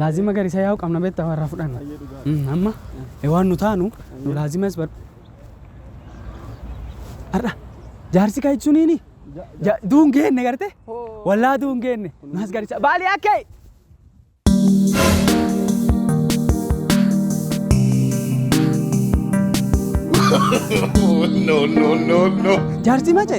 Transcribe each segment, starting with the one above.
Laazima garisa yaa'u qabna beektaa warra fudhanna. Mm, Amma eh, waan nu taanu nu laazimas bar. Har'a jaarsi kan ibsuniini ja- duun geenne garte wallaa duun geenne nuhas garisa baalii akkee. no, no, no, no. Jaarsi mace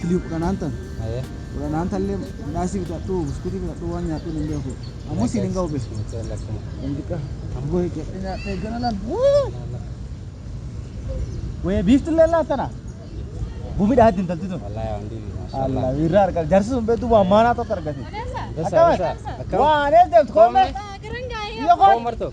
Kilii kudhanaan tan. Aye. Kudhanaan tallee midhaasii bitadhu buskutii bitadhu waan nyaadhu hin beeku. Ammoo siin hin ga'u be. Lamdiqa. Ammoo eegadhe nyaadhe eegana laal. Wayee biiftillee laal tana. Gumidha haddi intalti tun. Allah irraa argaa jarsi sun beektu waan maanaa tokko argate. Akkamitti? Waan eegdamtu koommee. Yoo koo.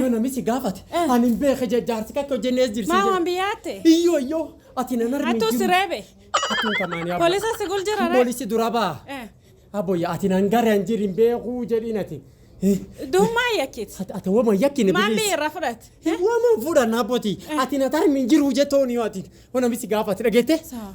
Yoo namichi gaafate ani hin beeke jee jaarsi kakka hojjennee Maa waan jirsiise. biyyaate? Iyyoo iyyoo ati nan armi Attuu si reebe? Attuu kamaanii abbo. Polisa si gul jira ree? Polisi dura baa. Eh, Abboyya ati nan gara hin jirin beekuu jedhiin ati. Duummaa yakkit. Ati ati wama yakkine Maan bilis. biyya irraa fudhate? Wama fuudhan abboti. Ati na tarmi hin jiru jettooni yoo ati. Yoo namichi gaafate dhageette. Saa.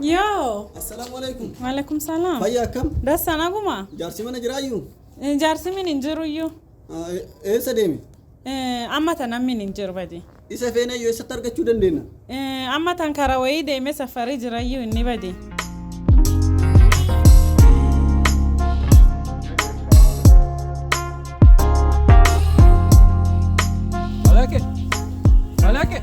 Yoo. Assalaamu alaikum. Maalaikum salaam. Fayyaa akkam? Dassan aguma. Jaarsi mana jiraayyu? Eh, Jaarsi min hin jiru iyyuu. Ah, e- Eessa deeme? Eh, Amma tan ammin hin jiru badi. Isa feena iyyuu eessatti argachuu dandeenya? Eh, Amma tan karaa wayii deemee safarii jira iyyuu inni badi. Malake. Malake.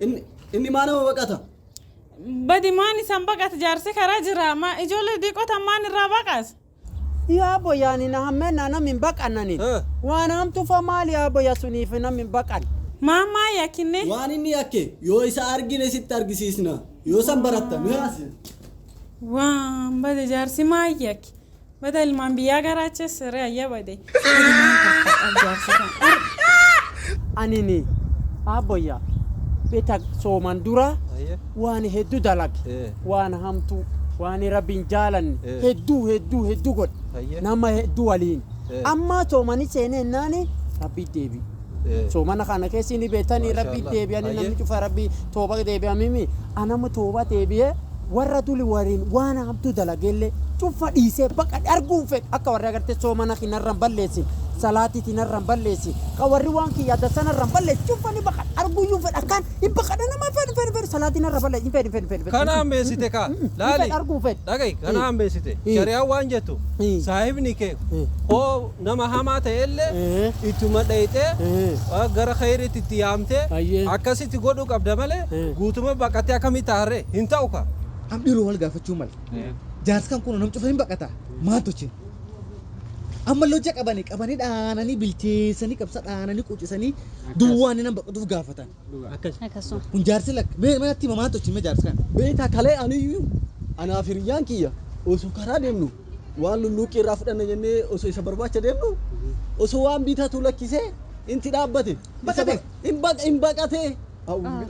Inni inni maa nama baqata? Badi maan isan baqata jaarsi karaa jira ma ijoollee diiqotan maan irraa baqas. Yaa boyaani na hammeenna namni hin baqannani. Eh. Waan hamtufa maali yaa boya suniif namni hin baqan. Maan maa yakkinne. Waan inni yakke yoo isa argine sitti argisiisna. Yoo san baratta mee asi. Waan bade jaarsi maa yakki. Bada ilmaan biyyaa garaacha siree ayya bade. Ilmaan kaffadha jaarsi kan ar. Anini abboyya beta sooman dura Aye. waan heddu dalage Eh. waan hamtu waan rabbiin jaalanne Eh. heddu heddu heddu godhe Aye. nama heddu waliin Eh. amma soomani seene ennaani rabbi deebi Soomana kana keessa inni beektanii rabbi deebi'anii namni cufa rabbi tooba deebi'amimi anama tooba deebi'ee warra tuli wariin waan hamtuu dalageellee cufa dhiisee baqa arguun fedhu akka warri agartee soomana kinarraan balleessin salaatii tinarraan balleessi ka warri waan kiyya dasanarraan balleessi cufa ni baqa arguuyyuu fedha akkaan hin baqadha nama fedhu fedhu fedhu salaatii narra balleessi hin fedhu fedhu fedhu Kana hammeessite kaa. Laali. arguu fedhu Dhagahi kana hammeessite. Shari'aan waan jettu saahibni kee hoo Nama hamaa ta'elle ittuma dhayxee gara khayriitti itti yaamtee akkasitti godhuu qabda malee guutuma baqattee akkamitti taha ree? Hin ta'u kaa! Am dhiroo wal gaafachuu male. Jaarsi kan kunoo nam cufa hin baqata. Maal tochin? Ammalle hojja qabani qabani dhaanani bilcheesani qabsa dhaanani qucisani duwwaani nam baqatuuf gaafatan. Dhugaa akkas. Akkasuma. Kun jaarsi lakka. Mee mee natti hima maal tolchine jaarsa kana. Beektaa kalee aniyyu anaa fi hiriyyaan kiyya osoo karaa deemnu waan lulluuqqii irraa fudhanna jennee osoo isa barbaacha deemnu osoo waan bitatu lakkisee inti dhaabbate Baqate? hin baqatee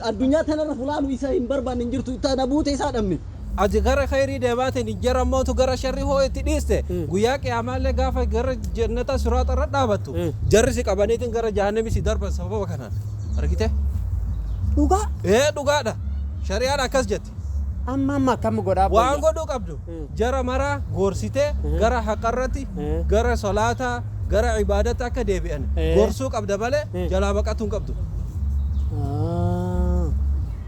addunyaa tanarra fulaanu isa hin barbaanne hin jirtu tana buute isaa dhabne. Ati gara kheeyrii deemaatiin hin jira mootu gara sharrii hoo itti dhiiste guyyaa qiyaamaallee gaafa gara jannataa siraaxa irra dhaabattu jarri si qabaniitiin gara jahannamii si darban sababa kanaan argite Dhugaa ee dhugaadha shari'aan akkas jetti amma amma akkam godhaa waan boyya. godhuu qabdu Mm. jara maraa gorsitee Mm. gara haqarratti Mm. gara solaataa gara ibaadatti akka deebi'an Eh. gorsuu qabda malee Mm. jalaa baqatuu hin qabdu Ah.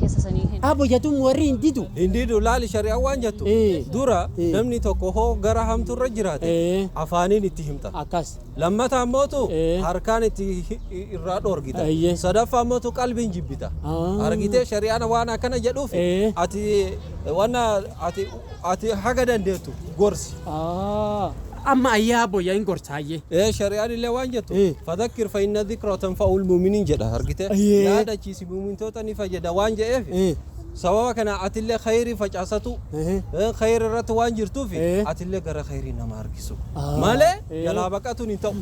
kessa sanii hin. Abo jatuun warri hin didu. Hin didu laali shari'an waan jattu dura namni tokko hoo gara hamtu irra jiraate afaaniin itti himta akkas lammata ammootu harkaan itti irraa dhoorgita sadaffa ammootu qalbiin jibbita argitee shari'aan waan akkana jedhuuf ati wanna ati ati haga dandeettu gorsi amma ayyaa abbo yaa hin gorsaayyee. Ee shari'aan illee waan jettu fadakkir fa inna dhikra tanfa'ul mu'minin jedha argite yaadachiis mu'mintoota ni fayyada waan je'eef Ee. sababa kana atillee khayrii facaasatu Ehe. eh, khayrii irratti waan jirtuuf Ee. atillee gara khayrii nama harkisu Ah. malee Ee. jalaa baqatuun hin ta'u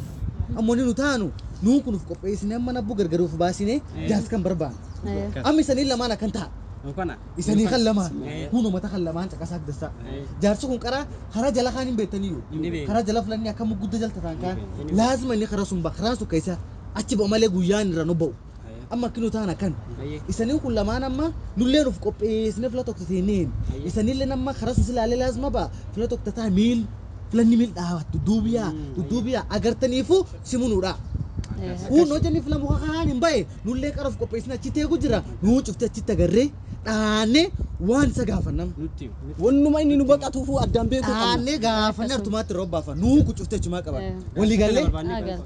Ammoo ni nu taanu nuun kun of qopheessine amma nabbuu gargar of baasine jaas kan barbaanne. Amma isanii lamaan akkan ta'a. Isanii kan lamaan kun uummata kan lamaan caqasaa dassaa. Jaarsi kun karaa karaa jala kaan hin beektaniyyuu. Karaa jala filanni akka muggudda jalta ta'an kaan. Laazima inni karaa sun ba'a karaa sun keessa achi ba'a malee guyyaan irra nu ba'u. Amma akki nu taan akkan. Isanii kun lamaan amma nulleen uf qopheessinee fila tokko teenneen. Isanilleen amma karaa sun silaalee laazma ba'a fila tokko tataa miil filanni miil dhaabat dudduubiyaa dudduubiyaa agartaniifu simunuudha. Kun hojjanni fila muka kanaan hin ba'e nullee qara uf qopheessine achitti eegu jira nuu cufti achitti agarree dhaannee waan isa gaafannam. Wannuma inni nu baqatuufuu addaan beekuu qabna. Dhaannee gaafannee artumaatti irra obbaafa nuu kun cufti achumaa qaban. Walii gallee.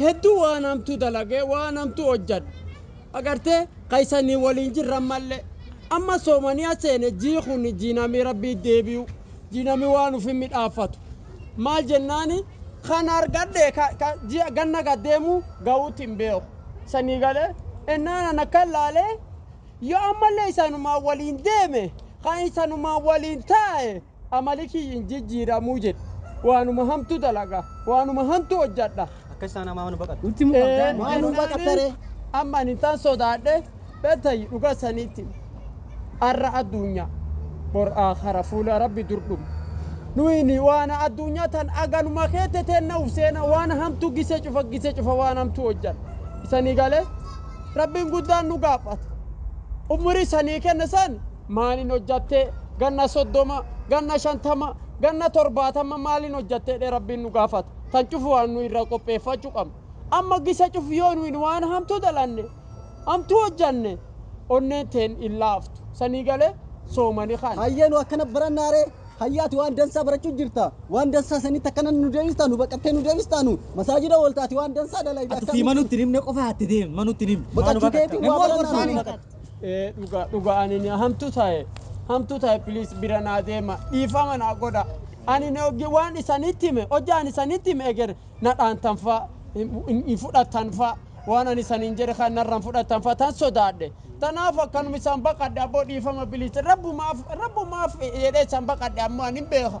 Hedduu waan hamtuu dalagee waan hamtuu hojjadhe. Agartee ka isanii waliin jirra ammallee. Amma soomaniya seene jii kuni jii namii rabbii deebi'u. Jii namii waan ufii midhaaffatu. Maal jennaani kan argadhe ka, ka ji'a ganna gad deemu ga'uutti hin beeku. Sanii galee ennaan ana kan laalee yoo ammallee isanumaan waliin deeme kan isanumaan waliin taa'e Amali kiyyi hin jijjiiramu jedhe. Waanuma hamtuu dalaga, waanuma hantuu hojjadha. Akka isaan amaa nu baqatte. Nutti himuu qabda. Ee, Maa nu baqatta isaanii ree? amma ani isaan sodaadhe bettayyi dhugaa isaniitti arra addunya bor aakhara fuula rabbi dur dhumna nuyini waana addunyaa tan aganuma keette teenna uf seena waan hamtuu gise cufa gise cufa waan hamtuu hojjan isanii galee rabbiin guddaan nu gaafata ummurii isanii kenna san Maalin hojjatte ganna soddoma ganna shantama ganna torbaatamma maalin hojjatte jedhee rabbiin nu gaafata tan cufu waan nu irra qopheeffachu qabnu amma gisa cufu yoo nuyin waan hamtu dalanne hamtu hojjanne onneen teen hin laaftu sanii gale soomani kan. Hayyee nu akkana barannaa ree hayye ati waan dansaa barachu jirta waan dansaa sanitti akkana nu deebista nu baqattee nu deebista nu masaajida oolta ati waan dansaa dalayda Ati sii manu itti hin himne qofa atti deemi manu itti hin himne. Baqachuu keetiin waa barannaa nu. Ee dhuga dhuga ani ni hamtu tae hamtu tae please bira naa deema dhiifama naa godha ani ni oggi waan isanitti hime hojja ani isanitti hime eger na dhaantan fa hin fudhattan fa waan ani isaniin jedhe kan narra hin fudhattan fa tan sodaadhe tanaaf akkanuma isan baqadhe abbo dhiifama please rabbumaaf rabbumaaf jedhe isan baqadhe ammo ani hin beeka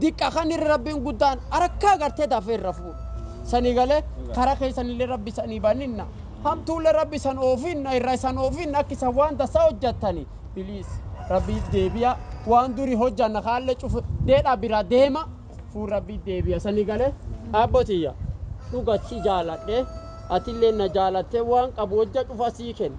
diqqa kan irra rabbin guddaan arakkaa gartee dafee irra fuudha sanii galee kara keessanillee rabbi sanii baninna hamtuullee rabbi san oofinna irra isan oofinna akki isan waan dassa hojjattani biliis rabbiif deebiya waan duri hojjanna kaalle cufu deedha bira deema fuul rabbiif deebiya sanii galee abbotiyya dhuga si jaaladhe atillee na jaalattee waan qabu hojja cufa sii kenna